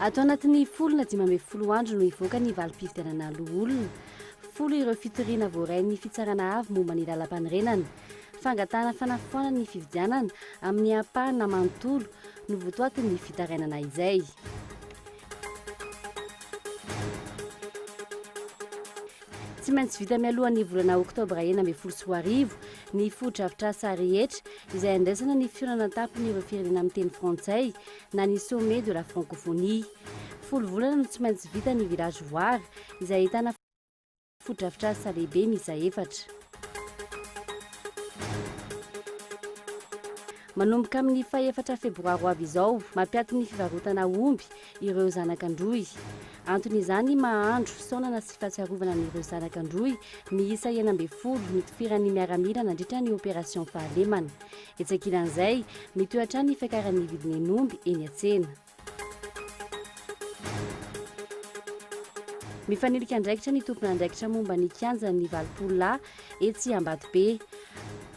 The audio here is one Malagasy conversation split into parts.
Ato anatin'ny folo na dimy ambin'ny folo andro no hivoaka ny valim-pifidianana loholona. Folo ireo fitoriana voarain'ny Fitsarana Avo momba ny Lalampanorenana. Fangatahana fanafoanana ny fifidianana amin'ny ampahana manontolo no votoatin'ny fitarainana izay. Tsy maintsy vita mialoha ny volana oktobra enina ambin'ny folo sy roa arivo ny fotodrafitrasa rehetra izay andraisana ny fihaonana an-tampon'ireo firenena miteny frantsay na ny sommet de la francophonie. Folo volana no tsy maintsy vita ny village voar izay ahitana fotodrafitrasa lehibe miisa efatra. Manomboka amin'ny fahefatra febroary ho avy izao, mampiato ny fivarotana omby ireo zanaka an-drohy. Antony izany maha-andro fisaonana sy fahatsiarovana an'ireo zanaka an-drohy miisa enina ambin'ny folo nitifiran'ny miaramila nandritra ny opération fahalemana. Etsy ankilan'izay, mitohy hatrany ny fiakaran'ny vidin'ny hen'omby eny an-tsena. Mifanilika andraikitra ny tompon'andraikitra momba ny kianjan'ny valopolo lahy etsy Ambatobe.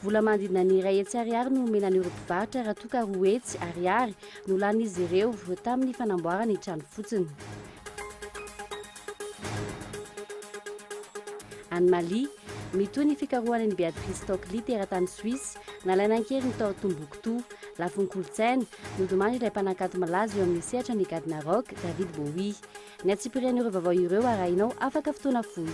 Vola manodidina ny iray hetsy ariary no omena an'ireo mpivarotra raha toa ka roa hetsy ariary no lanin'izy ireo tamin'ny fanamboarana ny trano fotsiny. Any Mali, mitohy ny fikarohana an'i Beatrice Stockley teratany Suisse, nalaina an-keriny tao Tombouctou. Lafiny kolontsaina, nodimany ilay mpanakanto malaza eo amin'ny sehatra ny gadona rock, David Bowie. Ny antsipiriany ireo vaovao ireo arahinao afaka fotoana fohy.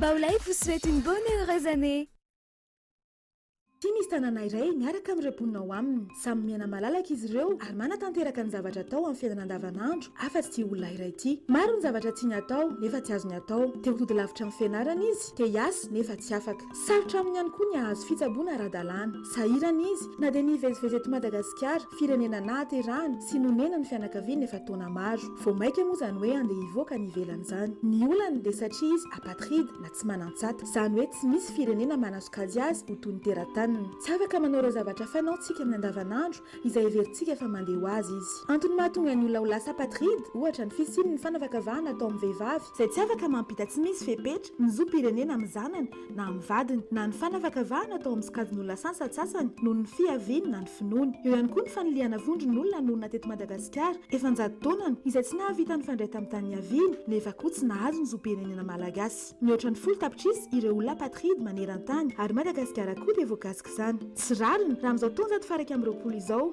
Baolay vous souhaite une bonne et heureuse année. Ity misy tanàna iray miaraka amin'ireo mponina ao aminy. Samy miaina malalaka izy ireo ary manatanteraka ny zavatra atao amin'ny fiainana andavanandro afa-tsy ity olona iray ity. Maro ny zavatra tiany atao nefa tsy azony atao. Te ho tody lavitra amin'ny fianarana izy, te hiasa nefa tsy afaka. Sarotra aminy ihany koa ny hahazo fitsaboana ara-dalàna. Sahirana izy na dia nivezivezy eto Madagasikara, firenena nahaterahany sy nonenany ny fianakaviany efa taona maro. Vao maika moa izany hoe handeha hivoaka any ivelany izany. Ny olany dia satria izy apatride na tsy manan-tsata. Izany hoe tsy misy firenena manasokajy azy ho toy ny terataniny. Tsy afaka manao ireo zavatra fanao tsika amin'ny andavanandro izay heverintsika fa mandeha ho azy izy. Antony mahatonga ny olona ho lasa apatride, ohatra, ny fisiany ny fanavakavahana atao amin'ny vehivavy. Izay tsy afaka mampita tsy misy fepetra ny zom-pirenena amin'ny zanany na amin'ny vadiny, na ny fanavakavahana atao amin'ny sokajin'olona sansatsatsany noho ny fiaviany na ny finoany. Eo ihany koa ny fanilihana vondron'olona nonina teto Madagasikara efa an-jato taonany izay tsy nahavita nifandray tamin'ny tany niaviany nefa koa tsy nahazo ny zom-pirenena malagasy. Mihoatra ny folo tapitrisa ireo olona apatride maneran-tany ary Madagasikara koa dia voakasik'izany. Tsy rariny raha amin'izao taonjato faha iraika amby roapolo izao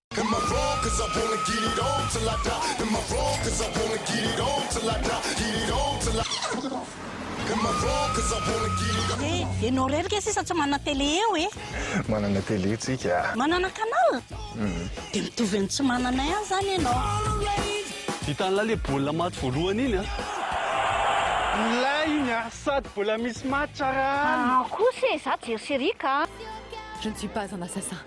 Eh, ianao irery kay sisa tsy manana télé eo e? Manana télé tsika a! Manana canal? Dia mitovy amin'ny tsy manana ihany izany ianao. Vitan'ilay le baolina maty voalohany iny an! Milay iny a! Sady mbola misy match ara an! An kosa e, za jery série ka. Je ne suis pas un assassin.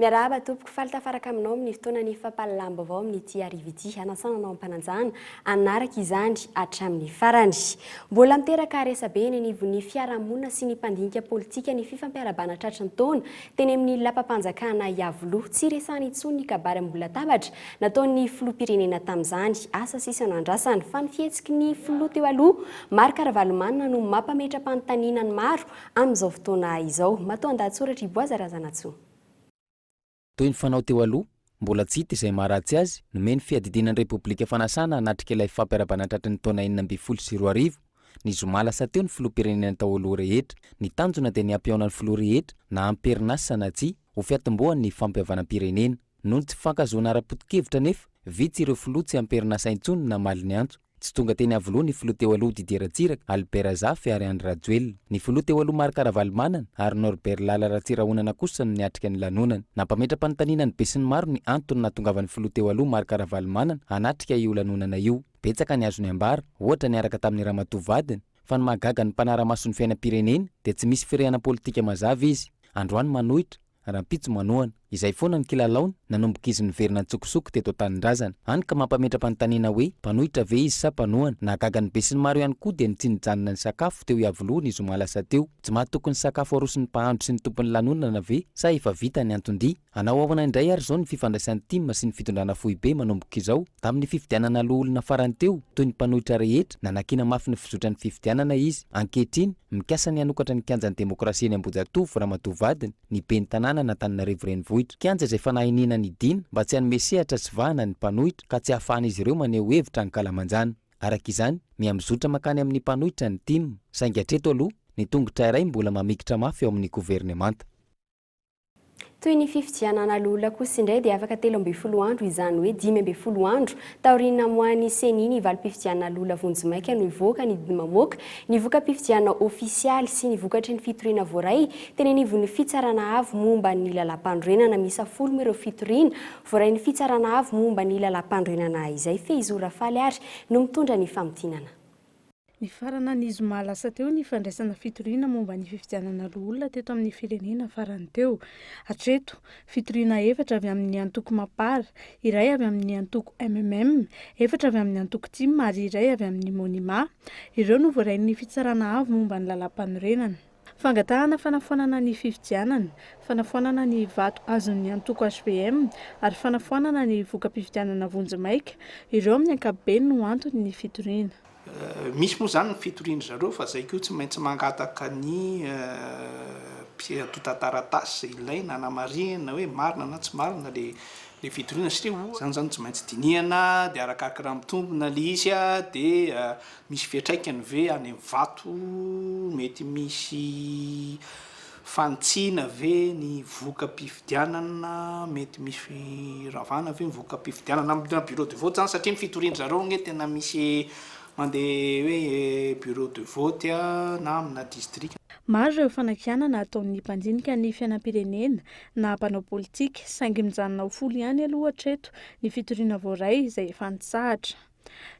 Miarahaba tompoko, faly tafaraka aminao amin'ny fotoanan'ny fampahalalam-baovao amin'ity hariva ity. Hanasana anao am-pananjana hanaraka izany hatramin'ny farany. Mbola miteraka resabe eny anivon'ny fiarahamonina sy ny mpandinika politika ny fifampiarabana tratry ny taona teny amin'ny lapam-panjakana Iavoloha. Tsy resahana intsony ny kabary amboholatabatra nataon'ny filoham-pirenena tamin'izany. Asa sisa no andrasana fa ny fihetsiky ny filoha teo aloha Marc Ravalomanana no mampametra-panontaniana ny maro Amin'izao fotoana izao. Matoandahatsoratra i Boaza Razanatsoa. Toy ny fanao teo aloha, mbola tsy hita izay maharatsy azy, nomeny fiadidiana ny Repoblika fanasana hanatrika ilay fampiarabana tratry ny taona enina ambin'ny folo sy roa arivo, ny zoma lasa teo ny Filoham-pirenena tao aloha rehetra. Ny tanjona dia ny hampihaona ny Filoha rehetra, na am-perinasa na tsia, ho fiatombohan' ny fampihavanam-pirenena. Noho ny tsy fifankahazoana ara-poto-kevitra anefa, vitsy ireo Filoha tsy am-perinasa intsony namaly ny antso. Tsy tonga teny Iavoloha ny filoha teo aloha Didier Ratsiraka, Albert Razafy ary Andry Rajoelina. Ny filoha teo aloha Marc Ravalomanana ary Norbert Lala Ratsirahonana kosa no niatrika ny lanonana. Nampametra-panontaniana ny besinimaro ny antony nahatongavan'ny filoha teo aloha Marc Ravalomanana hanatrika io lanonana io. Betsaka ny azo niambara, ohatra niaraka tamin'ny ramatoa vadiny, fa ny mahagaga ny mpanara-maso ny fiainam-pirenena dia tsy misy firehanam-politika mazava izy. Androany manohitra. rahampitso manohana. Izay foana ny kilalaony, nanomboka izy niverina an-tsokosoko teto an-tanindrazana. Hany ka mampametra-panontaniana hoe, mpanohitra ve izy sa mpanohana? Nahagaga ny besinimaro ihany koa dia ny tsy nijanona nisakafo teo Iavoloha ny zoma lasa teo. Tsy mahatoky ny sakafo aroson'ny mpahandro sy ny tompon'ny lanonana ve sa efa vita ny anton-dia? Hanao ahoana indray ary izao ny fifandraisan'ny tim sy ny fitondrana foibe manomboka izao? Tamin'ny fifidianana loholona farany teo, toy ny mpanohitra rehetra, Nanakiana mafy ny fizotran'ny fifidianana izy. Ankehitriny, mikasa ny hanokatra ny kianjan'ny demokrasia eny Ambohijatovo, ramatoa vadiny, ny ben'ny tanàna an'Antananarivo Renivohitra. Kianja izay fanahy iniana ny Dina mba tsy hanome sehatra sy vahana ny mpanohitra ka tsy hahafahan'izy ireo maneho hevitra ankalamanjana. Araka izany, miha-mizotra mankany amin'ny mpanohitra ny tim. Saingy hatreto aloha, ny tongotra iray mbola mamikitra mafy eo amin'ny governemanta. Toy ny fifidianana an'aloholona kosa indray dia afaka telo ambin'ny folo andro, izany hoe dimy ambin'ny folo andro, taorian'ny namoahan'ny Ceni ny valim-pifidianana an'aloholona vonjimaika no hivoaka ny didy mamoaka ny voka-pifidianana ofisialy sy ny vokatry ny fitoriana voaray teny anivon'ny Fitsarana Avo momba ny Lalàmpanorenana. Miisa folo ireo fitoriana voarain'ny Fitsarana Avo momba ny Lalàmpanorenana izay. Fehizoro Rafaly ary no mitondra ny famintinana. Nifarana ny zoma lasa teo ny fandraisana fitoriana momba ny fifidianana loholona teto amin'ny firenena farany teo. Hatreto, fitoriana efatra avy amin'ny antoko Mapar, iray avy amin'ny antoko MMM, efatra avy amin'ny antoko Tim ary iray avy amin'ny Monima. Ireo no voarain'ny Fitsarana Avo momba ny Lalàmpanorenana. Fangatahana fanafoanana ny fifidianana, fanafoanana ny vato azon'ny antoko hvm ary fanafoanana ny voka-pifidianana vonjimaika, ireo amin'ny ankapobeny no antony ny fitoriana. Misy moa izany ny fitorian-dry zareo fa izay koa tsy maintsy mangataka ny mpiantotan-taratasy izay ilaina hanamarihana hoe marina na tsy marina ilay fitoriana satria izany izany tsy maintsy dinihana dia arakaraka raha mitombina ilay izy dia Misy fiatraikany ve any amin'ny vato? Mety misy fanitsiana ve ny voka-pifidianana? Mety misy firavana ve ny voka-pifidianana? Amina bureau de vote zany satria ny fitorian-dry zareo anie tena misy mandeha hoe bureau de vote na amina distrika. Maro ireo fanakianana ataon'ny mpandinika ny fiainam-pirenena na mpanao politika, saingy mijanona ho folo ihany aloha hatreto ny fitoriana voaray izay efa nitsahatra.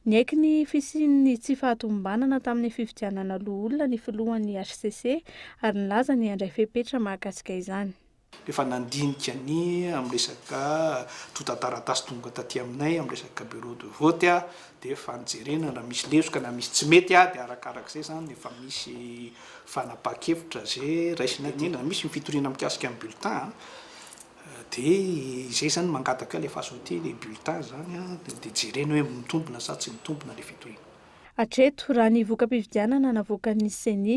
Niaiky ny fisian'ny tsy fahatomombanana tamin'ny fifidianana loholona ny filohan'ny hcc ary nilaza ny handray fepetra mahakasika izany. Efa nandinika ny amin'ny resaka tontan-taratasy tonga taty aminay amin'ny resaka bureau de vote aho dia efa nojerena raha misy lesoka na misy tsy mety dia arakarak'izay izany efa misy fanapahan-kevitra izay raisina aty. Indrindra misy ny fitoriana mikasika ny bulletin. Dia izay izany mangataka ilay fazoté ilay bulletin izany an, dia jerena hoe mitombina sa tsy mitombina ilay fitoriana. Hatreto, raha ny voka-pifidianana navoakan'ny Ceni,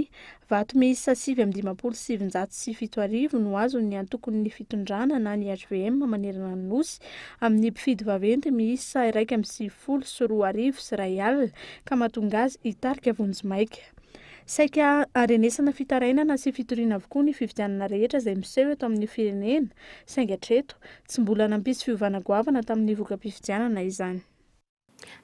vato miisa sivy amby dimampolo sy sivinjato sy fito arivo no azon'ny antokon'ny fitondrana na ny hvm manerana ny Nosy amin'ny mpifidy vaventy miisa iraika amby sivifolo sy roa arivo sy iray alina ka mahatonga azy hitarika vonjimaika Saika harenesana fitarainana sy fitoriana avokoa ny fifidianana rehetra izay miseho eto amin'ny firenena, saingy hatreto, tsy mbola nampisy fiovana goavana tamin'ny voka-pifidianana izany.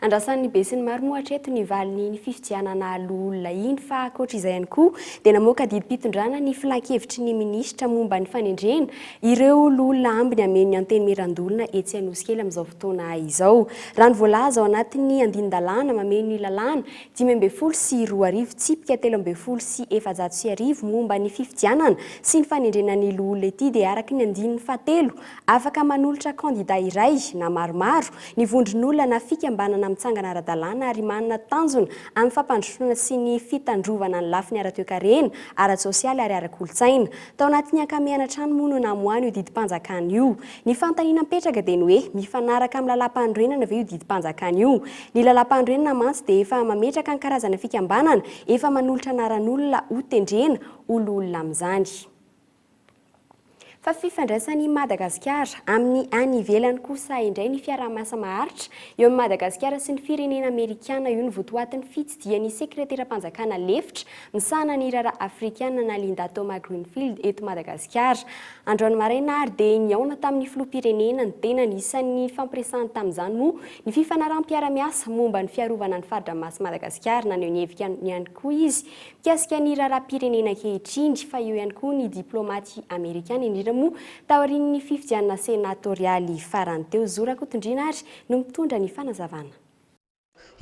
Andrasan'ny besinimaro moa hatreto ny valin'iny fifidianana loholona iny, fa ankoatra izay ihany koa dia namoaka didim-pitondrana ny Filankevitry ny Minisitra momba ny fanendrena ireo loholona ambiny hameno ny Antenimierandoholona etsy Anosikely amin'izao fotoana izao. Raha ny voalaza ao anatin'ny andinin-dalàna mameno ny lalàna dimy ambin'ny folo sy roa arivo tsipika telo ambin'ny folo sy efajato sy arivo momba ny fifidianana sy ny fanendrena ny loholona ity dia araka ny andininy fahatelo, afaka manolotra kandida iray na maromaro ny vondron'olona na fikambanana mitsangana ara-dalàna ary manana tanjona amin'ny fampandrosoana sy ny fitandrovana ny lafiny ara-toekarena, ara-tsosialy ary ara-kolontsaina. Tao anatin'ny ankamehana hatrany moa no namoahany io didim-panjakana io. Ny fanontaniana mipetraka dia ny hoe mifanaraka amin'ny lalàmpanorenana ve io didim-panjakana io? Ny lalàmpanorenana mantsy dia efa mametraka ny karazana fikambanana efa manolotra anaran'olona ho tendrena ho loholona amin'izany. Fa fifandraisan' i Madagasikara amin'ny any ivelany kosa indray ny fiaraha-miasa maharitra eo amin'i Madagasikara sy ny firenena amerikana io no votoatin'ny fitsidihan'ny sekreteram-panjakana lefitra Misahana ny raharaha Afrikana na Linda Thoma-Greenfield eto Madagasikara. Androany maraina ary dia nihaona tamin'ny filoham-pirenena ny tenany. Isan'ny nifampiresahany tamin'izany moa ny fifanaraham-piara-miasa momba ny fiarovana ny fari-dranomasin'i Madagasikara. Naneho ny heviny ihany koa izy mikasika ny raharaham-pirenena ankehitriny fa eo ihany koa ny diplaomaty amerikana indrindra moa taorian'ny fifidianana senatorialy farany teo. Zo Rakotondriana ary no mitondra ny fanazavana.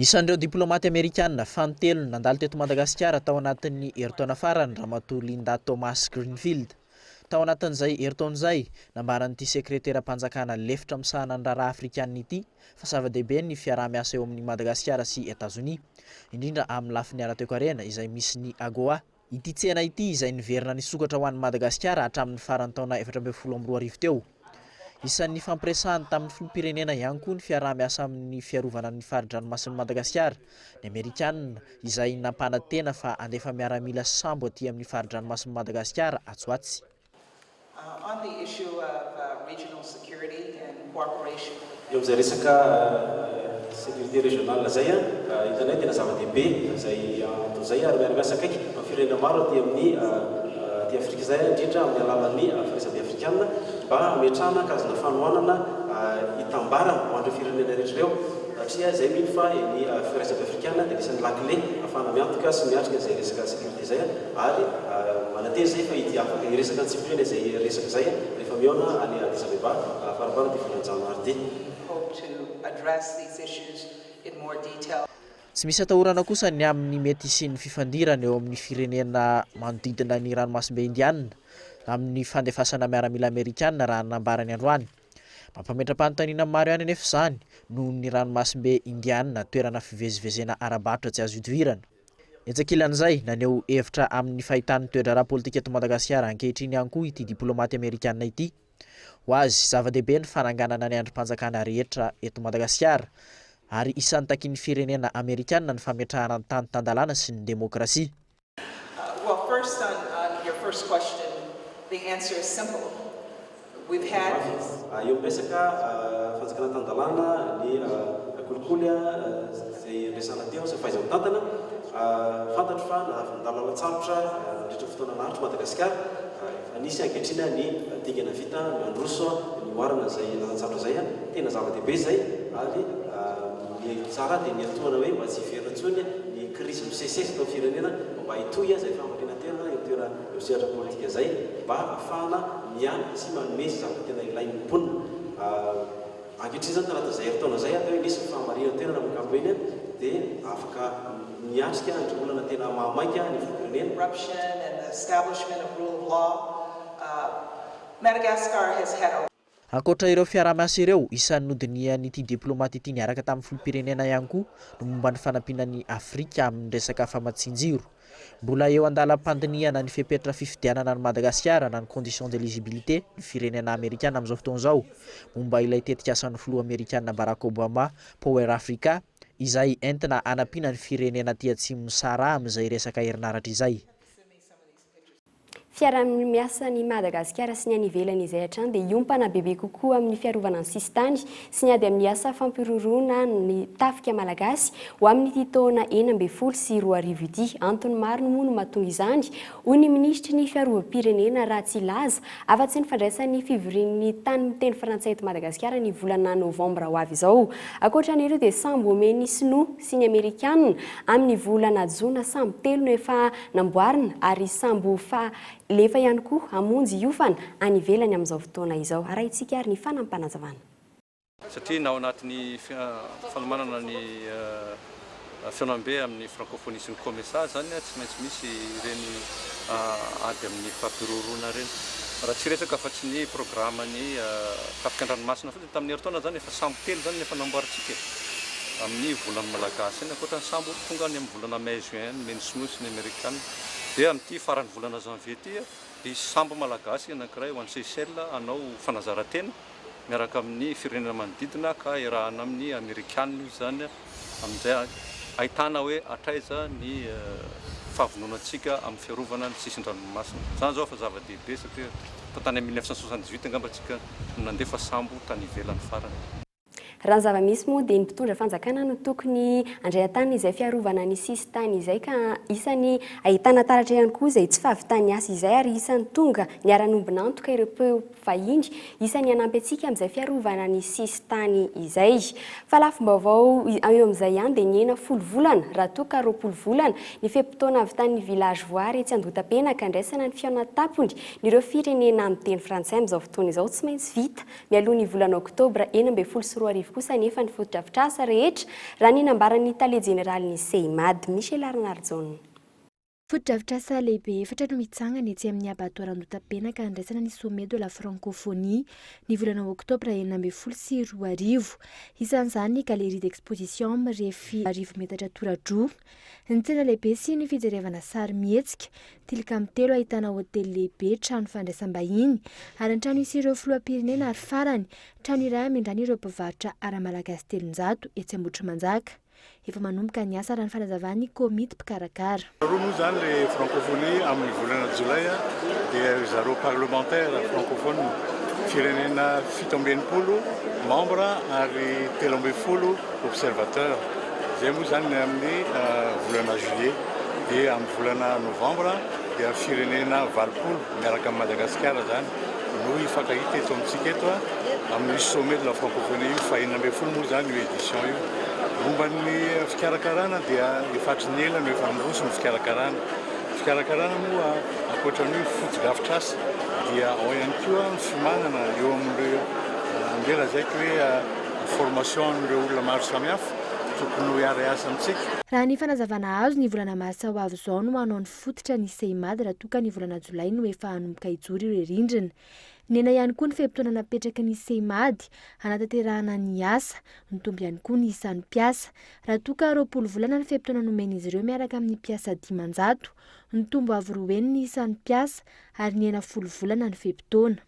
Isan'ireo diplaomaty amerikana fanintelony nandalo teto Madagasikara tao anatin'ny herintaona farany Ramatoa Linda Thomas-Greenfield. Tao anatin'izay herintaona izay, nambaran'ity sekreteram-panjakana lefitra misahana ny raharaha afrikanina ity fa zava-dehibe ny fiaraha-miasa eo amin'i Madagasikara sy Etazonia, indrindra amin'ny lafiny ara-toekarena izay misy ny AGOA. Ity tsena ity izay niverina nisokatra ho an'i Madagasikara hatramin'ny faran'ny taona efatra ambin'ny folo amby roa arivo teo. Isan'ny nifampiresahany tamin'ny filoham-pirenena ihany koa ny fiaraha-miasa amin'ny fiarovana ny fari-dranomasin'i Madagasikara ny Amerikanina izay nampanantena fa handefa miaramila sambo aty amin'ny fari-dranomasin'i Madagasikara atsy ho atsy. Eo amin'izay resaka sécurité régionale izay, hitanay tena zava-dehibe izay antony izay ary miara-miasa akaiky amin'ny firenena maro aty amin'ny aty Afrika izay indrindra amin'ny alalan'ny Firaisambe Afrikana mba hametrahana hakazona fanohanana hitambarana ho an'ireo firenena rehetra ireo satria izay mino fa ny Firaisambe Afrikana dia anisan'ny lakile ahafahana miantoka sy miatrika izay resaka sécurité izay. Ary manantena izahay fa ity afaka hiresaka antsipiriany izay resaka izay rehefa mihaona any Addis Abeba faraparany ity volana Janoary ity. Tsy misy atahorana kosa ny amin'ny mety hisian'ny fifandirana eo amin'ny firenena manodidina ny Ranomasimbe Indianina amin'ny fandefasana miaramila Amerikana raha ny nambarany androany. Mampametra-panontaniana maro ihany anefa izany noho ny Ranomasimbe Indianina toerana fivezivezena ara-barotra tsy azo idivirana. Etsy ankilan'izay, naneho hevitra amin'ny fahitany ny toe-draharaha politika eto Madagasikara ankehitriny ihany koa ity diplômaty amerikanina ity. Ho azy, zava-dehibe ny fananganana ny andrim-panjakana rehetra eto Madagasikara, ary isan'ny takian'ny firenena amerikanina ny fametrahana ny tany tan-dalàna sy ny demokrasia. with Harris. Eo amin'ny resaka fanjakana tan-dalàna, ny kolikoly izay niresahana teo sy ny fahaiza-mitantana, fantatro fa nahavin-dahalo lalan-tsarotra nandritra ny fotoana naharitra i Madagasikara. Efa nisy ankehitriny ny dingana vita nandroso nihoarana izay lalan-tsarotra izay. Tena zava-dehibe izay ary ny tsara dia niantohana hoe mba tsy hiverina intsony ny krizy misesisesy eto amin'ny firenena mba hitohy izay famaliana tena eo amin'ny toerana. io sehatra politika izay mba hahafahana miahy sy manome izay zavatra tena ilain'ny mponina. Ankehitriny izany taona tazahy herintaona izay dia misy ny fahamarinan toerana amin'ny ankapobeny dia afaka miatrika ireo olana tena mahamaika ny firenena. corruption and establishment of rule of law, Madagascar has had a. Ankoatra ireo fiaraha-miasa ireo, isan'ny nodinihan'ity diplaomaty ity niaraka tamin'ny filoham-pirenena ihany koa ny momba ny fanampiana an'i Afrika amin'ny resaka famatsian-jiro. Mbola eo an-dalam-pandinihana ny fepetra fifidianana an'i Madagasikara na ny conditions d'eligibilité ny firenena amerikana amin'izao fotoana izao momba ilay tetikasan'ny filoha amerikana Barack Obama Power Africa izay entina hanampiana ny firenena aty atsimon'ny Sahara amin'izay resaka herinaratra izay. Fiaraha-miasa an'i Madagasikara sy ny any ivelany izay hatrany dia hiompana bebe kokoa amin'ny fiarovana ny sisintany sy ny ady amin'ny asa fampiroroana ny tafika malagasy ho amin'ity taona enina ambin'ny folo sy roa arivo ity. Antony maro moa no mahatonga izany, hoy ny minisitry ny Fiarovam-pirenena raha tsy hilaza afa-tsy ny fandraisan'ny fivorian'ny tany miteny frantsay eto Madagasikara ny volana novambra ho avy izao. Ankoatra an'ireo dia sambo omen'ny sinoa sy ny Amerikanina amin'ny volana jona sambo telo no efa namboarina ary sambo ho fahalefa ihany koa hamonjy hiofana any ivelany amin'izao fotoana izao. Arahintsika ary ny fanampanazavan'. Satria na ao anatin'ny fanomanana ny fihaonambe amin'ny Francophonie sy ny Comesa izany tsy maintsy misy ireny ady amin'ny fampiroroana ireny. Raha tsy resaka afa-tsy ny programan'ny tafika an-dranomasina fotsiny. Tamin'ny herintaona izany efa sambo telo izany no efa namboarintsika e! Amin'ny volan'ny Malagasy ihany, ankoatra ny sambo tonga any amin'ny volana Mai, Juin any, Mai ny Sinoa sy ny Amerikana. Dia amin'ity faran'ny volana Janvier ity hisy sambo Malagasy anankiray ho any Seychelles hanao fanazaran-tena miaraka amin'ny firenena manodidina ka iarahana amin'ny Amerikana izy izany. Amin'izay, ahitana hoe hatraiza ny fahavononantsika amin'ny fiarovana ny sisin-dranomasina. Izany izao efa zava-dehibe satria efa tany amin'ny mille neuf cent soixante dix huit angamba isika no nandefa sambo tany ivelany farany. Raha ny zava-misy moa dia ny mpitondra fanjakana no tokony handray an-tanana izay fiarovana ny sisin-tany izay ka isan'ny ahitana taratra ihany koa izay tsy fahavitan'ny asa izay ary isan'ny tonga niara-niombon'antoka ireo vahiny, isan'ny hanampy antsika amin'izay fiarovana ny sisin-tany izay. Fa lafim-baovao eo amin'izay ihany dia nihena folo volana, raha toa ka roapolo volana, ny fe-potoana havitan'ny Village Voary etsy Andohatapenaka handraisana ny fihaonan-tampony n'ireo firenena miteny frantsay amin'izao fotoana izao. Tsy maintsy vita mialohan'ny volana oktobra enina ambin'ny folo sy roa arivo kosa anefa ny fotodrafitrasa rehetra, raha ny nambaran'ny tale jeneralin'ny CIMAD, Michelarnarjaona. Fotodrafitrasa lehibe efatra no hitsangana etsy amin'ny Abattoir Andohatapenaka handraisana ny Sommet de la Francophonie ny volana oktobra enina ambin'ny folo sy roa arivo. Isan'izany ny Galerie d'exposition mirefy arivo metatra toradroa, ny tsena lehibe sy ny fijerevana sarimihetsika, tilikambo telo ahitana hotely lehibe, trano fandraisam-bahiny ary ny trano hisy ireo filoham-pirenena ary farany, trano iray hamindràna ireo mpivarotra ara-malagasy telonjato etsy Ambohitrimanjaka. Efa manomboka ny asa raha ny fanazavan'ny komity mpikarakara. Taloha moa izany ilay Francophonie amin'ny volana jolay dia ry zareo parlementaires francophones firenena fito amby enimpolo membres ary telo ambin'ny folo observateurs izay moa izany ny amin'ny volana juillet dia amin'ny volana novembre dia firenena valopolo miaraka amin'i Madagasikara izany no hifankahita eto amintsika eto amin'ny Sommet de la Francophonie io, faheenina ambin'ny folo moa izany io édition io. Momba ny fikarakarana dia efa hatry ny ela no efa niroso ny fikarakarana. Ny fikarakarana moa ankoatra ny hoe fotodrafitrasa dia ao ihany koa ny fiomanana eo amin'ireo andeha lazaiko hoe formation an'ireo olona maro samihafa tokony ho hiara-hiasa amintsika. Raha ny fanazavana azo, ny volana martsa ho avy izao no hanao ny. fototra ny CIMAD raha toa ka ny volana jolay no efa hanomboka hijoro ireo rindrina. Nihena ihany koa ny fe-potoana napetraky ny CIMAD hanatanterahana ny asa. Nitombo ihany koa ny isan'ny mpiasa. Raha toa ka roapolo volana ny fe-potoana nomen'izy ireo miaraka amin'ny mpiasa dimanjato, nitombo avo roa heny ny isan'ny mpiasa ary nihena folo volana ny fe-potoana.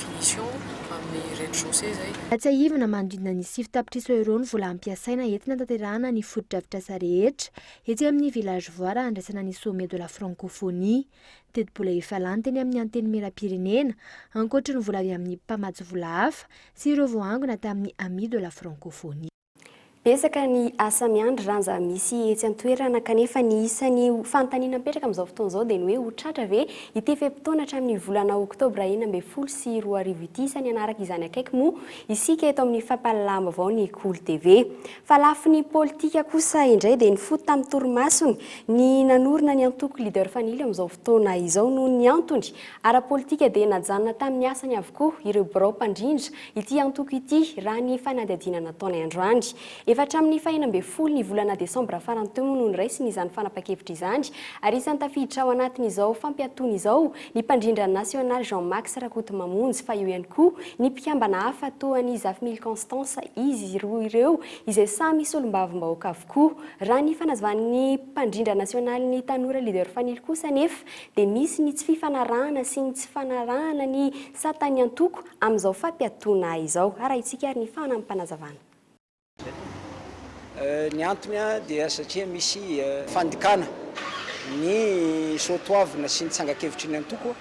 Misy eo amin'ny rez-de-chaussée izay. Tsiahivina manodidina ny sivy tapitrisa euros ny vola hampiasaina entina hanatanterahana ny fotodrafitrasa rehetra etsy amin'ny Village Voire handraisana ny Sommet de la Francophonie. Tetibola efa lany teny amin'ny Antenimierampirenena, ankoatry ny vola avy amin'ny mpamatsy vola hafa sy ireo voaangona tamin'ny Amis de la Francophonie. Betsaka ny asa miandry ranja misy etsy an-toerana kanefa ny isan'ny fanontaniana mipetraka amin'izao fotoana izao dia ny hoe ho tratra ve ity fe-potoana hatramin'ny volana oktobra enina ambin'ny folo sy roa arivo ity? Isan'ny hanaraka izany akaiky moa isika eto amin'ny fampahalalaham-baovao ny Kolo TV. Fa lafiny politika kosa indray dia nifoto tamin'ny torimasony ny nanorina ny antoko Leader Fanilo amin'izao fotoana izao noho ny antony ara-politika dia najanona tamin'ny asany avokoa ireo birao mpandrindra Ity antoko ity, raha ny fanadihadiana nataonay androany. Efa hatramin'ny fahenina ambin'ny folo ny volana desambra farany teo moa no niraisiny izany fanapan-kevitra izany ary isan'ny tafiditra ao anatin'izao fampiatoana izao ny mpandrindra nasionaly Jean Max Rakotomamonjy fa eo ihany koa ny mpikambana hafa toa an'i Zafimily Constance izy roa ireo izay samy solombavambahoaka avokoa. Raha ny fanazavan'ny mpandrindra nasionalin'ny tanora Leader Fanilo kosa anefa dia misy ny tsy fifanarahana sy ny tsy fanarahana ny Sata ny antoko amin'izao fampiatoana izao. Arahintsika ary ny fanampanazavana. Ny antony dia satria misy fandikana ny soatoavina sy ny tsangan-kevitry ny antoko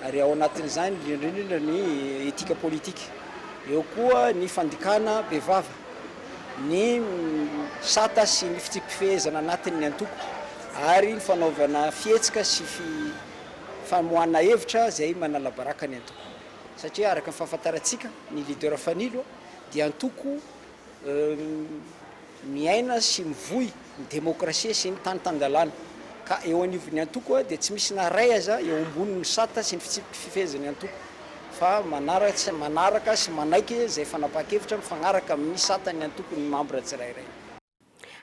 ary ao anatin'izany indrindra ny etika politika. Eo koa ny fandikana bevava ny sata sy ny fitsipi-pifehezana anatin'ny antoko ary ny fanaovana fihetsika sy famoahana hevitra izay manalabaraka ny antoko. Satria araka ny fahafantarantsika, ny leader Fanilo dia antoko miaina sy mivoy ny demokrasia sy ny tany tan-dalàna. Ka eo anivon'ny antoko dia tsy misy na iray aza eo ambonin'ny sata sy ny fitsipiky fifehezan'ny antoko fa manaraka sy manaiky izay fanapahan-kevitra mifagnaraka amin'ny satan'ny antoko ny membre tsirairay.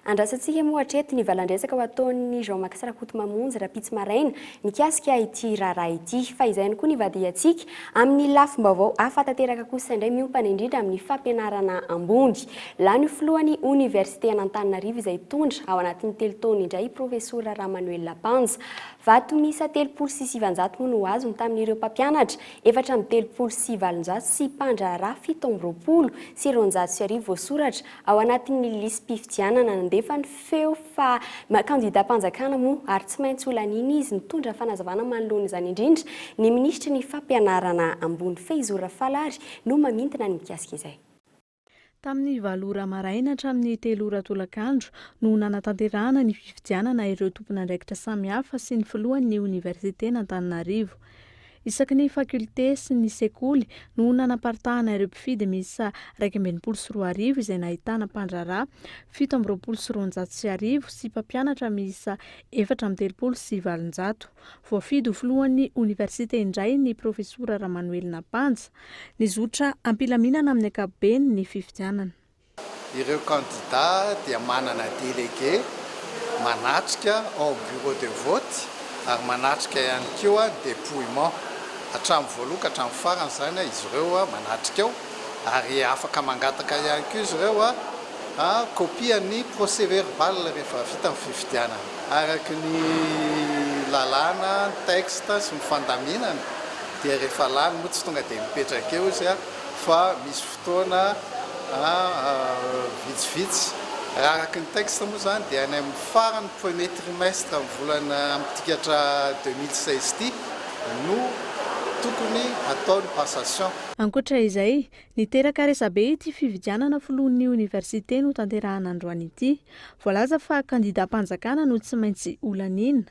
Andrasantsika moa hatreto ny valan-dresaka ho ataon'i Jean Max Rakotomamonjy rahampitso maraina mikasika ity raharaha ity. Fa izay ihany koa ny vadihantsika. Amin'ny lafim-baovao hafa tanteraka kosa indray miompana indrindra amin'ny fampianarana ambony. Lany ho filohan'ny oniversite an'Antananarivo izay hitondra ao anatin'ny telo taona indray i Profesora Ramanoelina Panja. Vato miisa telopolo sy sivanjato moa no azony tamin'ireo mpampianatra efatra amby telopolo sy valonjato sy mpandraharaha fito amby roapolo sy roanjato sy arivo voasoratra Ao anatin'ny lisi-pifidianana nandefa ny feo fa kandidam-panjakana moa ary tsy maintsy ho laniana izy. Nitondra fanazavana manoloana izany indrindra ny minisitry ny Fampianarana ambony, Faizo Rafalary, no mamintina ny mikasika izay. Tamin'ny valo ora maraina hatramin'ny telo ora tolakandro no nanatanterahana ny fifidianana ireo tompon'andraikitra samihafa sy ny filohan'ny oniversiten'Antananarivo. Isaky ny faculté sy ny sekoly no nanaparitahana ireo mpifidy miisa iraika amby enimpolo sy roa arivo izay nahitana mpandraharaha fito amby roapolo sy roanjato sy arivo sy mpampianatra miisa efatra amby telopolo sy valonjato. Voafidy ho filohan'ny oniversite indray ny profesora Ramanoelina Banja. Nizotra am-pilaminana amin'ny ankapobeny ny fifidianana. Ireo kandidà dia manana délégué manatrika ao amin'ny bureau de vote ary manatrika ihany koa ny dépouillement. Hatramin'ny voalohany ka hatramin'ny farany izany izy ireo manatrika ao ary afaka mangataka ihany koa izy ireo kopian'ny procès-verbal rehefa vita ny fifidianana. Araka ny lalàna, ny texte sy ny fandaminana dia rehefa lany moa tsy tonga dia mipetraka eo izy fa misy Fotoana vitsivitsy, raha araka ny texte moa izany dia any amin'ny faran'ny premier trimestre amin'ny volana mitikatra deux mille seize ity no tokony hatao ny passation. Ankoatra izay, niteraka resabe ity fividianana filohan'ny oniversite notanterahana androany ity. Voalaza fa kandidam-panjakana no tsy maintsy ho laniana.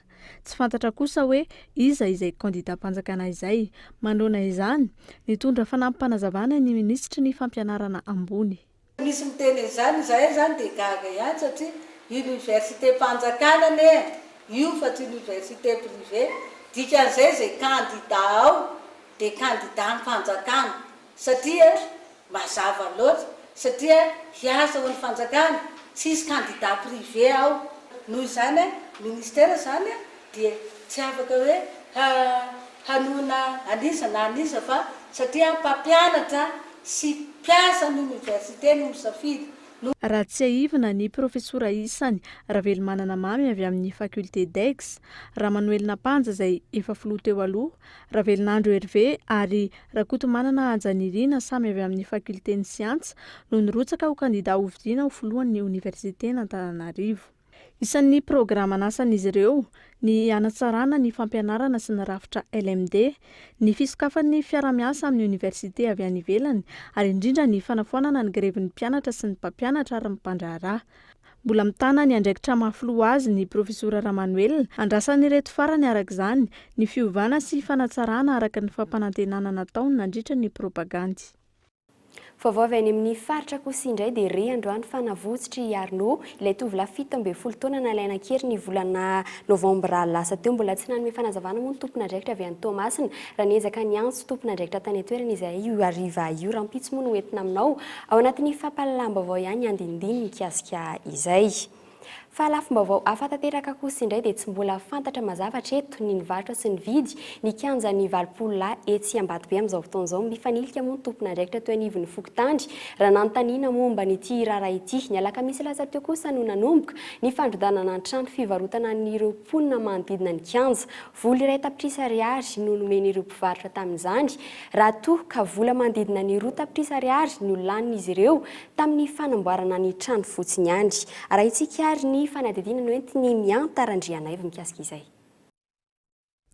Tsy fantatra kosa hoe iza izay kandidam-panjakana izay. Manoloana izany, nitondra fanampim-panazavana ny minisitry ny Fampianarana ambony. Misy miteny an'izany, izahay izany dia gaga ihany satria universitem-panjakana anie io fa tsy université privée, dikan'izay izay kandida ao dia kandidam-panjakana. Satria mazava loatra satria hiasa ho an'ny fanjakana tsy hisy candidat privé ao noho izany ministera zany dia tsy afaka hoe hanohina an'iza na an'iza fa satria mpampianatra sy mpiasa ny université no misafidy no Raha tsiahivina, ny profesora isany, Ravelomanana Mamy avy amin'ny faculté d'Aix, Ramanoelina Panja izay efa filoha teo aloha, Ravelinandro Hervé ary Rakotomanana Haja Nirina samy avy amin'ny Fakulten'ny Siansa no nirotsaka ho kandidà hofidiana ho filohan'ny Oniversiten'Antananarivo. Isan'ny programan'asan'izy ireo ny hanatsarana ny fampianarana sy ny rafitra LMD, ny fisokafan'ny fiarahamiasa amin'ny Oniversite avy any ivelany ary indrindra ny fanafoanana ny grevin'ny mpianatra sy ny mpampianatra ary ny mpandraharaha. Mbola mitana ny andraikitra maha filoha azy ny Profesora Ramanoelina. Andrasan'ireto farany araka izany ny fiovana sy fanatsarana araka ny fampanantenana nataony nandritra ny propagandy. Vaovao avy any amin'ny faritra Akosi indray dia re androany fa navotsotr'i Arnaud, ilay tovolahy fito ambin'ny folo taona nalaina an-kery ny volana novambra lasa teo. Mbola tsy nanome fanazavana moa ny tompon'andraikitra avy any Toamasina raha niezaka niantso tompon'andraikitra tany an-toerana izahay io hariva io. Rahampitso moa no ho entina aminao. Ao anatin'ny fampahalalam-baovao ihany ny andinindiny mikasika izay. Fa lafim-baovao hafa tanteraka kosa indray dia tsy mbola fantatra mazava hatreto ny nivarotra sy nividy ny kianjan'ny valopolo lahy etsy Ambatobe amin'izao fotoana izao. Mifanilika moa ny tompon'andraikitra teo anivon'ny fokontany raha nanontaniana momba an'ity raharaha ity. Ny alakamisy lasa teo kosa no nanomboka ny fandrodanana ny trano fivarotana an'ireo mponina manodidina ny kianja. Vola iray tapitrisa ariary no nomen'ireo mpivarotra tamin'izany, raha toa ka vola manodidina ny roa tapitrisa ariary no lanin'izy ireo tamin'ny fanamboarana ny trano fotsiny ihany. Arahintsika ary ny fanadihadiana noentin'i Mianta Randrianaivo mikasika izay.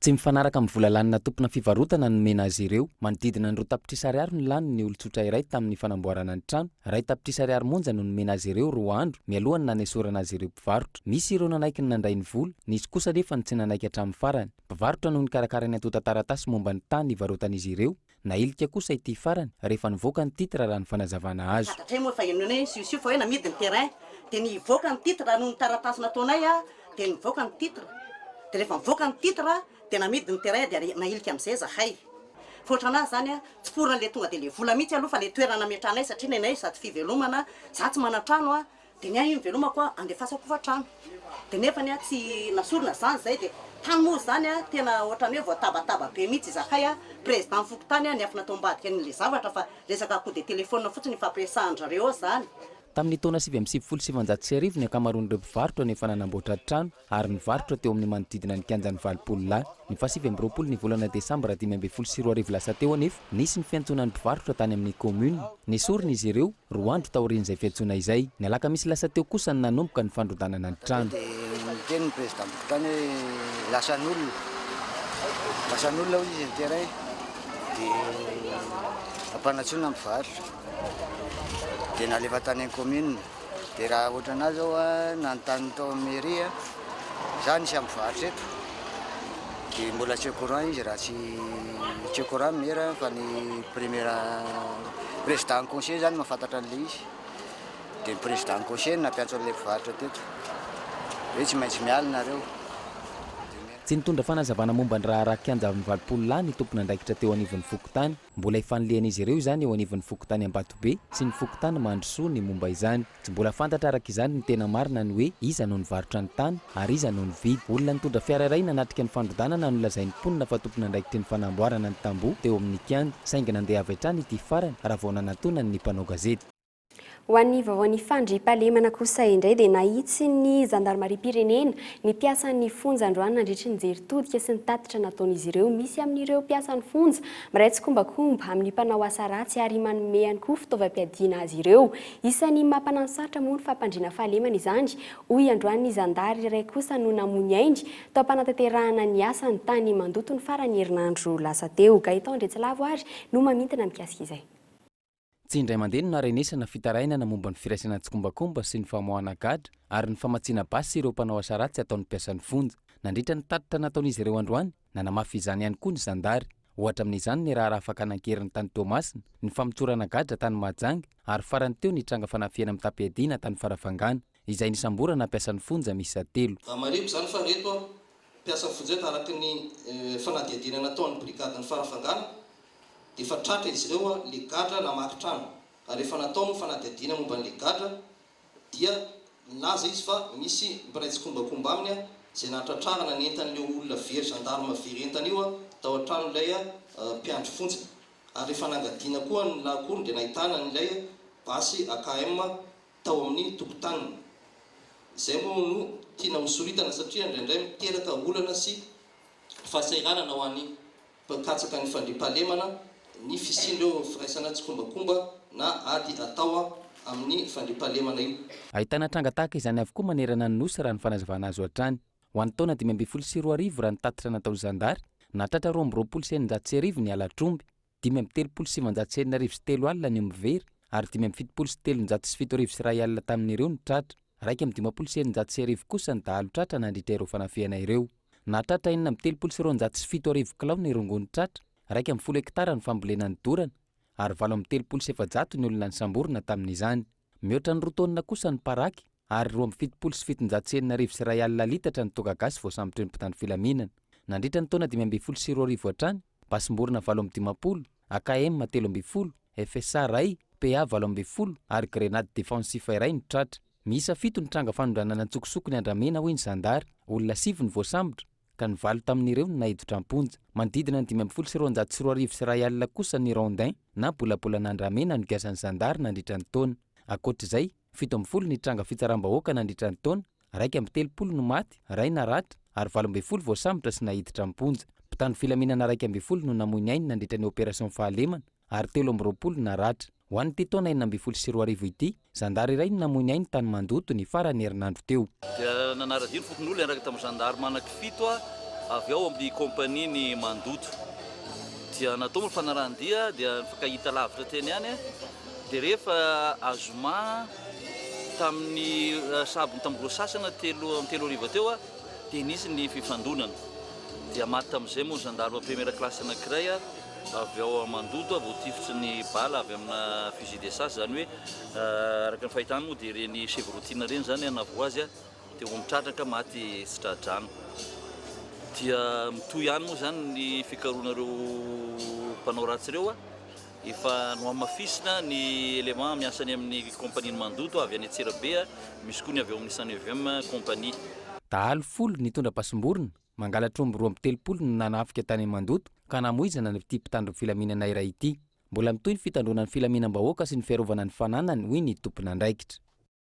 Tsy mifanaraka amin'ny vola lanina tompona fivarotana nomena azy ireo. Manodidina ny roa tapitrisa ariary no lanin' ny olon-tsotra iray tamin'ny fanamboarana ny trano. Iray tapitrisa ariary monja no nomena azy ireo roa andro mialohan'ny nanesorana azy ireo. mpivarotra. Nisy ireo nanaiky ny nandray ny vola, nisy kosa anefa ny tsy nanaiky hatramin'ny farany. Mpivarotra no nikarakara ny antontan-taratasy momba ny tany nivarotan'izy ireo. Nahilika kosa ity farany, rehefa nivoaka ny titre raha ny fanazavana azo. Fantatra moa fa io nony siosioka hoe namidy ny terrain dia nivoaka ny titre raha noho ny taratasy nataonay dia nivoaka ny titre dia rehefa nivoaka ny titre dia namidy ny terrain dia nahilika amin'izay zahay fa ohatran'azy izany tsy pour an'ilay tonga dia ilay vola mihitsy aloha fa ilay toerana nametrahanay satria nenay sady fivelomana, za tsy manan-trano an! Dia ny ahy iny velomako a andefasako hofantrano dia nefany a tsy nasorina izany izay dia tany moa izany a tena ohatran'ny hoe voatabataba be mihitsy izahay a président fokontany a niafina tao ambadika an'ilay zavatra fa resaka coup de téléphone fotsiny ifampiresahan-dry zareo ao izany. Tamin'ny taona sivy amby sivifolo sy sivinjato sy arivo ny ankamaroan'ireo mpivarotra no efa nanamboatra trano ary nivarotra teo amin'ny manodidina ny kianjan'ny Valopolo lahy. Ny fahasivy amby roapolo ny volana desambra dimy ambin'ny folo sy roa arivo lasa teo anefa, nisy ny fiantsoana ny mpivarotra tany amin'ny kaominina. Nesorina izy ireo, roa andro taorian'izay fiantsoana izay. Ny alakamisy lasa teo kosa no nanomboka ny fandrodanana ny trano. Dia niteny ny prezidantiko tany hoe lasan'olona, lasan'olona hoy izy ny terrain, dia ampanantsoina ny mpivarotra. Dia nalefa tany amin'ny kaominina. Dia raha ohatra anah zao a, nanontany tao amin'ny mairie a, za nisy ambovaritra eto, dia mbola tsy au courant izy raha tsy tsy au courant ny maire fa ny premier président ny conseiller zany mahafantatra an'ilay izy, dia ny président ny conseiller no nampiantso an'ilay mpivarotra teto, hoe tsy maintsy miala nareo. Tsy nitondra fanazavana momba ny raharaha kianja amin'ny valopolo lahy ny tompon'andraikitra teo anivon'ny fokontany. Mbola ifanilihan'izy ireo izany eo anivon'ny fokontany Ambatobe sy ny fokontany Mandrosoa ny momba izany. Tsy mbola fantatra araka izany ny tena marina ny hoe iza no nivarotra ny tany ary iza no nividy. Olona nitondra fiara iray nanatrika ny fandrodanana no lazain'ny mponina fa tompon'andraikitry ny fanamboarana ny tamboho teo amin'ny kianja, saingy nandeha avy hatrany ity farany raha vao nanatonany ny mpanao gazety. Ho an'ny vaovaon'ny fandriampahalemana kosa indray dia nahitsin'ny zandarimariam-pirenena ny mpiasan'ny fonja androany nandritry ny jery todika sy ny tatitra nataon'izy ireo. Misy amin'ireo mpiasan'ny fonja miray tsikombakomba amin'ny mpanao asa ratsy ary manome ihany koa fitaovam-piadiana azy ireo. Isan'ny maha mpanasarotra moa ny fampandriana fahalemana izany, hoy androany ny zandary iray kosa no namoy ny ainy tao am-panatanterahana ny asany tany Mandoto ny faran'ny herinandro lasa teo. Gaëtan Andriatsilavo ary no mamintina mikasika izay. Tsy indray mandeha no naharenesana fitarainana momba ny firaisana an-tsikombakomba sy ny famoahana gadra ary ny famatsiana basy ireo mpanao asa ratsy ataon'ny mpiasan'ny fonja. Nandritra ny tatitra nataon'izy ireo androany, nanamafy izany ihany koa ny zandary. Ohatra amin'izany ny raharaha fakana an-keriny tany Toamasina, ny famotorana gadra tany Mahajanga ary farany teo ny tranga fanafihana mitam-piadiana tany Farafangana. izay nisamborana mpiasan'ny fonja miisa telo. Marihiko izany fa ireto mpiasan'ny fonja ireto, araka ny fanadihadiana nataon'ny brigadin'ny farafangana, dia efa tratra izy ireo ilay gadra namaky trano, ary efa natao ny fanadihadiana momba an'ilay gadra, dia nilaza izy fa misy mpiray tsikombakomba aminy izay nahatratrarana ny entan'ilay olona very zandarma very entana io tao an-tranon'ilay mpiandry fonja, ary rehefa nangadina koa ny lahakorony dia nahitana an'ilay basy AKM tao amin'ny tokotaniny. Izay moa no tiana hosoritana satria indraindray miteraka olana sy fahasahiranana ho an'ny mpikatsaka ny fandriampahalemana ny fisian'ireo firaisana tsikombakomba na ady atao amin'ny fandriampahalemana io. Ahitana tranga tahaka izany avokoa manerana ny Nosy raha ny fanazavana azo hatrany. Ho an'ny taona dimy ambin'ny folo sy roa arivo raha ny tatitra nataon'ny zandary, nahatratra roa amby roapolo sy eninjato sy arivo ny halatr'omby. dimy amby telopolo sy sivinjato sy enina arivo sy telo alina ny omby very ary dimy amby fitopolo sy telonjato sy fito arivo sy iray alina tamin'ireo ny tratra. Iraika amby dimampolo sy eninjato sy arivo kosa ny dahalo tratra nandritra ireo fanafihana ireo. Nahatratra enina amby telopolo sy roanjato sy fito arivo kilao ny rongony tratra, iraika amby folo hektara ny fambolena nodorana ary valo amby telopolo sy efajato ny olona nisamborina tamin'izany. Mihoatra ny roa taonina kosa ny paraky. Ar roa amby fitopolo sy fitonjato sy enina arivo sy iray alina litatra ny toaka gasy voasambotry ny mpitandro filaminana. Nandritra ny taona dimy ambin'ny folo sy roa arivo hatrany, basim-borona valo amby dimampolo, AKM telo ambin'ny folo, FSA iray, PA valo ambin'ny folo ary grenady defensifa iray no tratra. Miisa fito ny tranga fanondranana an-tsokosoko ny andramena hoy ny zandary. Olona sivy no voasambotry ka ny valo tamin'ireo no naiditra am-ponja. Manodidina ny dimy ambin'ny folo sy roanjato sy roa arivo sy iray alina kosa ny rondins na bolabolana andramena nogiazan'ny zandary nandritra ny taona. Ankoatra izay, Fito ambin'ny folo ny tranga fitsaram-bahoaka nandritra ny taona, iraika amby telopolo no maty, iray naratra, ary valo ambin'ny folo voasambotra sy naiditra am-ponja. Mpitandro filaminana iraika ambin'ny folo no namoy ny ainy nandritra ny opération fahalemana ary telo amby roapolo naratra. Ho an'ity taona enina ambin'ny folo sy roa arivo ity, zandary iray no namoy ny ainy tany Mandoto ny faran'ny herinandro teo. Dia nanara-dia ny fokonolona hiaraka tamin'ny zandary manaky fito avy ao amin'ny kaompanian'i Mandoto. Dia natao moa ny fanarahan-dia dia nifankahita lavitra teny ihany. Dia rehefa azoma tamin'ny sabon'ny tamin'ny roa sy sasany telo amin'ny telo hariva teo dia nisy ny fifandonana. Dia maty tamin'izay moa ny gendarme première classe anankiray avy ao Mandoto voatifitry ny bala avy amina fusil de chasse, izany hoe araka ny fahitana moa dia ireny chevrottine ireny izany na voa azy dia ho mitratraka maty tsy tra-drano. Dia mitohy ihany moa izany ny fikarohana ireo mpanao ratsy ireo. Efa nohamafisina ny éléments miasa any amin'ny kaompanian'ny mandoto avy any Antsirabe, misy koa ny avy ao amin'ny Sanevm compagnie. Dahalo folo nitondra pasim-borona, mangalatra omby roa amby telopolo no nanafika tany Mandoto ka namoizana an'ity mpitandro ny filaminana iray ity. Mbola mitohy ny fitandroana ny filaminam-bahoaka sy ny fiarovana ny fananany, hoy ny tompon'andraikitra.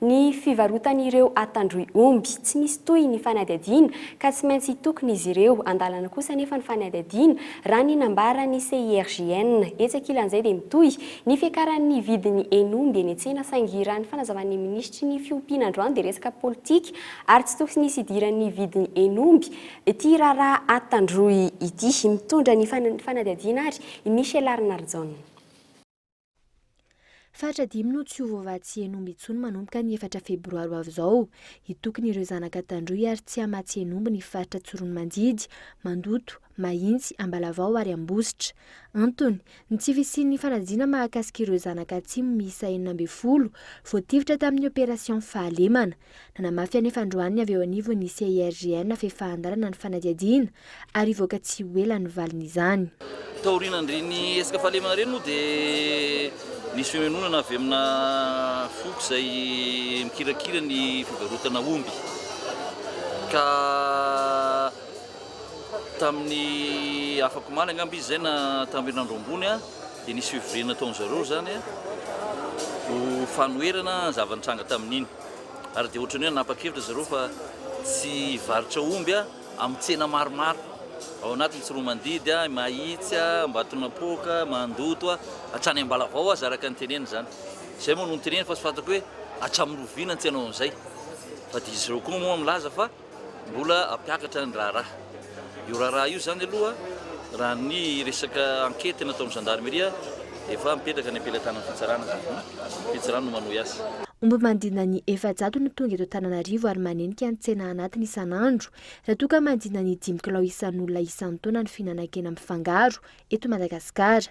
Ny fivarotan'ireo atandroy omby, tsy misy toy ny fanadihadiana ka tsy maintsy hitokona izy ireo. An-dalana kosa anefa ny fanadihadiana, raha ny nambaran'ny CIRGN. Etsy ankilan'izay dia mitohy ny fiakaran'ny vidin'ny hen'omby eny an-tsena saingy raha ny fanazavan'ny minisitry ny fiompiana androany dia resaka politika ary tsy toksy nisy hidiran'ny vidin'ny hen'omby ity raharaha atandroy ity. Mitondra ny fanadihadiana ary i Michel Arnardson. Faritra dimy no tsy ho voavatsy hen'omby intsony manomboka ny efatra febroary ho avy izao. Hitokona ireo zanaka Tandroy ary Tsiamatsy hen'omby ny faritra Tsiroanomandidy, Mandoto, Mahitsy, Ambalavao ary Ambositra. Antony, ny tsy fisian'ny fanajina mahakasika ireo zanaka Atsimo miisa enina ambin'ny folo voatifitra tamin'ny opération fahalemana. Nanamafy anefa androany ny avy eo anivon'ny CIRGN fa efa an-dalana ny fanadihadiana ary hivoaka tsy ho ela ny valin'izany. Taorian'ireny hetsika fahalemana ireny moa dia nisy fionononana avy amina foko izay mikirakira ny fivarotana omby ka tamin'ny afakomaly angamba izy izay na tamin'ny herinandro ambony, dia nisy fivoriana nataon-dry zareo izany ho fanoherana ny zava-nitranga tamin'iny ary dia ohatran'ny hoe nanapa-kevitra ry zareo fa tsy hivarotra omby amin'ny tsena maromaro ao anatin'ny Tsiroamandidy, Mahitsy, Ambatonampoaka, Mandoto hatrany Ambalavao aza araka ny teneniny izany. Izay moa no niteneniny fa tsy fantako hoe hatramin'ny oviana ny tsy hanao an'izay fa dia izy ireo koa moa milaza fa. Mbola hampiakatra ny raharaha. Io raharaha io izany aloha, raha ny resaka ankety nataon'ny zandarimeria, dia efa mipetraka any am-pelatanan'ny fitsarana izany. Ny fitsarana no manohy azy. Omby mandrindra ny efajato no tonga eto Antananarivo ary manenika ny tsena anatiny isan'andro, raha toa ka mandrindra ny dimy kilao isan'olona isan-taona ny fihinanan-kena mifangaro eto Madagasikara.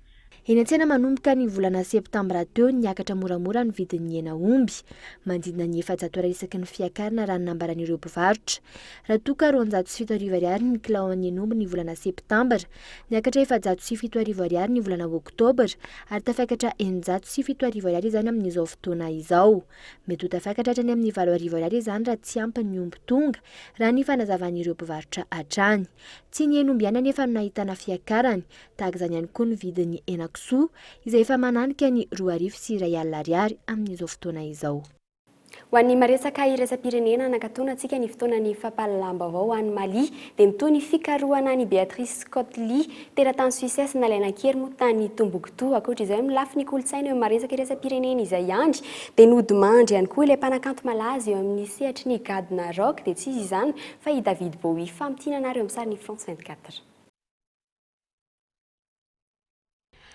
Eny an-tsena manomboka ny volana septambra teo, niakatra moramora ny vidin'ny hena omby, manodidina ny efajato Ar isaky ny fiakarana raha ny nambaran'ireo mpivarotra. Raha toa ka roanjato sy fito arivo Ar ny kilao an'ny hen'omby ny volana septambra, niakatra efajato sy fito arivo Ar ny volana oktobra ary tafiakatra eninjato sy fito arivo Ar izany amin'izao fotoana izao. Mety ho tafiakatra hatrany amin'ny valo arivo Ar izany raha tsy ampy ny omby tonga, raha ny fanazavan'ireo mpivarotra hatrany. Tsy ny hen'omby ihany anefa no nahitana fiakarany, Tahaka izany ihany koa ny vidin'ny henakisoa izay efa mananika ny roa arivo sy iray alina ariary amin'izao fotoana izao. Ho an'ny maresaka iraisam-pirenena, nankatoana antsika ny fotoanan'ny fampahalalam-baovao ho an'i Mali, dia mitohy ny fikarohana an'i Beatrice Scott Lee, teratany Suisses nalaina an-kery moa tany Tombouctou. Ankoatra izay, amin'ny lafiny kolontsaina eo amin'ny maresaka iraisam-pirenena izay ihany, dia nodimandry ihany koa ilay mpanakanto malaza eo amin'ny sehatry ny gadona rock, dia tsy iza izany fa i David Bowie. Famintinana ary eo amin'ny sarany France 24.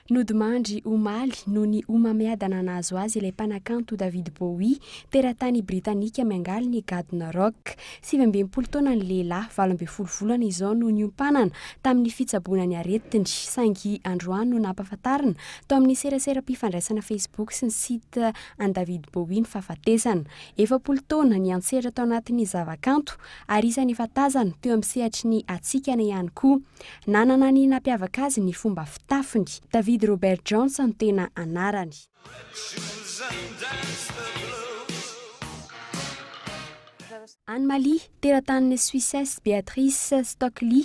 Nodimandry, omaly, noho ny homamiadana nahazo azy ilay mpanakanto David Bowie, teratany Britanika miangaly ny gadona rock. Sivy amby enimpolo taona ny lehilahy, valo ambin'ny folo volana izao no niompanana tamin'ny fitsaboana ny aretiny, saingy androany no nampahafantarina tao amin'ny seraseram-pifandraisana Facebook sy ny site an'i David Bowie ny fahafatesana. Efapolo taona niantsehatra tao anatin'ny zavakanto ary isany efa tazana teo amin'ny sehatry ny hatsikana ihany koa. Nanana ny nampiavaka azy ny fomba fitafiny. David Robert Jones no tena anarany. Any Mali, teratanin'i Suisses Beatrice Stockley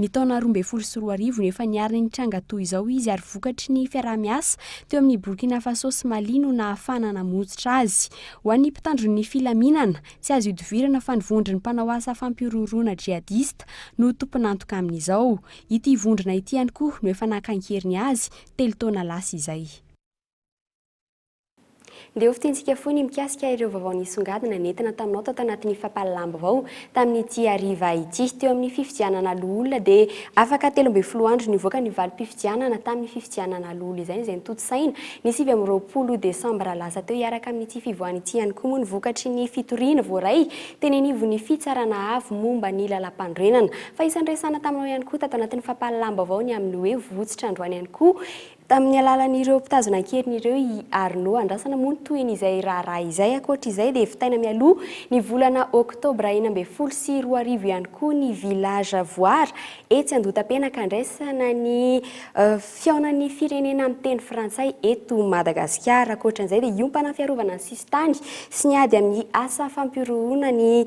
Ny taona roa ambin'ny folo sy roa arivo no efa nihariny ny tranga toa izao izy ary vokatry ny fiaraha-miasa teo amin'ny Burkina Faso sy Mali no nahafahana namonjitra azy. Ho an'ny mpitandro ny filaminana, tsy azo ihodivirana fa ny vondron'ny mpanao asa fampihorohoroana jihadista no tompon'antoka amin'izao. Ity vondrona ity ihany koa no efa naka an-keriny azy, telo taona lasa izay. Ndeha hofintintsika fohy ny mikasika ireo vaovao nisongadina nentina taminao tato anatin'ny fampahalalam-baovao tamin'ity hariva ity. Teo amin'ny fifidianana loholona dia afaka telo ambin'ny folo andro nivoaka ny valim-pifidianana tamin'ny fifidianana loholona izay izay notontosaina ny sivy amby roapolo desambra lasa teo. Hiaraka amin'ity fivoahana ity ihany koa moa ny vokatry ny fitoriana voaray teny anivon'ny Fitsarana Avo momba ny Lalàmpanorenana. Fa isan'ny resahana taminao ihany koa tato anatin'ny fampahalalam-baovao ny amin'ny hoe vohitsitra androany ihany koa Tamin'ny alalan'ireo mpitazona an-keriny ireo i Arnaud. Andrasana moa ny tohin'izay raharaha izay. Ankoatra izay dia vitaina mialoha ny volana oktobra enina ambin'ny folo sy roa arivo ihany koa ny Village Voir etsy Andotapenaka handraisana ny fihaonan'ny firenena amin'ny teny frantsay eto Madagasikara. Ankoatra an'izay dia hiompana ny fiarovana ny sisintany sy ny ady amin'ny asa fampihorohoroana ny